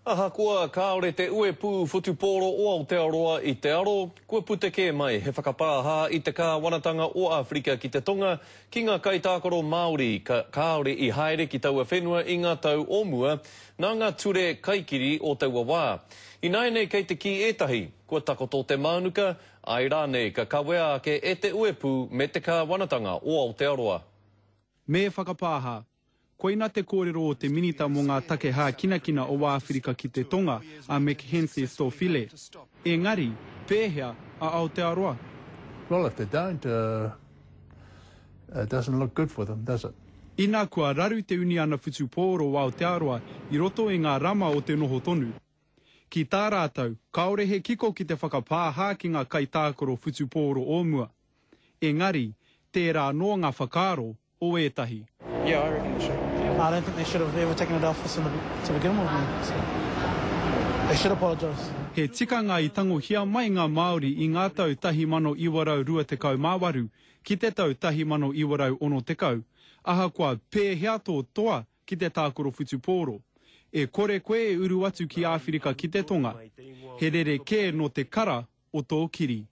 Ahakoa kāore te uepū whutupōro o Aotearoa i te aro, kua puta kē mai he whakapāhā i te kāwanatanga o Āwherika ki te Tonga ki ngā kaitākaro Māori ka kāore i haere ki taua whenua i ngā tau o mua nā ngā ture kaikiri o taua wā. Ināianei kei te kī ētahi, kua takoto te mānuka, āe rānei ka kawea ake e te uepū me te kāwanatanga o Aotearoa. Me whakapāhā, Koina te kōrero o te Minita mō ngā Take Hākinakina o Āwhirika ki te Tonga, a Mekgenthe Stofile. Engari, pēhea a Aotearoa? Well, if they don't, uh, it doesn't look good for them, does it? Inā kua raru te Uniana Whutupōro o Aotearoa i roto i ngā rama o te noho tonu. Ki tā rātou, kāore he kiko ki te whakapāhā ki ngā kaitākaro whutupōro o mua. Engari, tērā anō ngā whakaaro, o ētahi. Yeah, I reckon they should. I don't think they should have ever taken it off us in the, to begin with, mate, so they should apologise. He tikanga i tangohia mai ngā Māori i ngā tau 1928 ki te tau 1960, ahakoa pēhea tō toa ki te tākaro whutupōro. E kore koe e uru atu ki Āwhirika ki te Tonga, he rerekē nō te kara o tō kiri.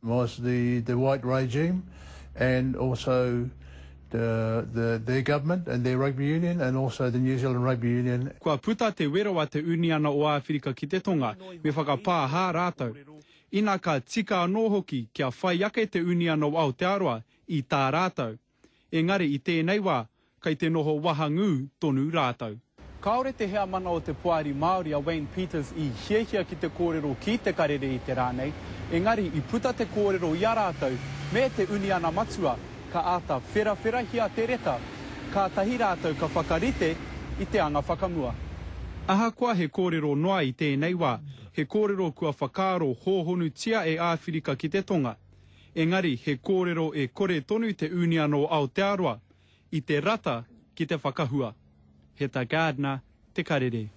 was the the white regime and also the the their government and their rugby union and also the New Zealand Rugby Union. Kua puta te wero a te Uniana o Āwhirika ki te Tonga me whakapāha rātou. Ina ka tika anō hoki kia whai ake te Uniana o Aotearoa i tā rātou. Engari i tēnei wā, kei te noho wahangū tonu rātou. Kāore te heamana o te Poari Māori a Wayne Peters i hiahia ki te kōrero ki Te Karere i te rā nei, engari i puta te kōrero i a rātou me te uniana matua, ka āta wherawherahia te reta, kātahi rātou ka whakarite i te anga whakamua. Ahakoa he kōrero noa i tēnei wā, he kōrero kua whakaaro hōhonutia e Āwhirika ki te Tonga. engari he kōrero e kore tonu te Union o Aotearoa i te rata ki te whakahua. Heta Gardner, Te Karere.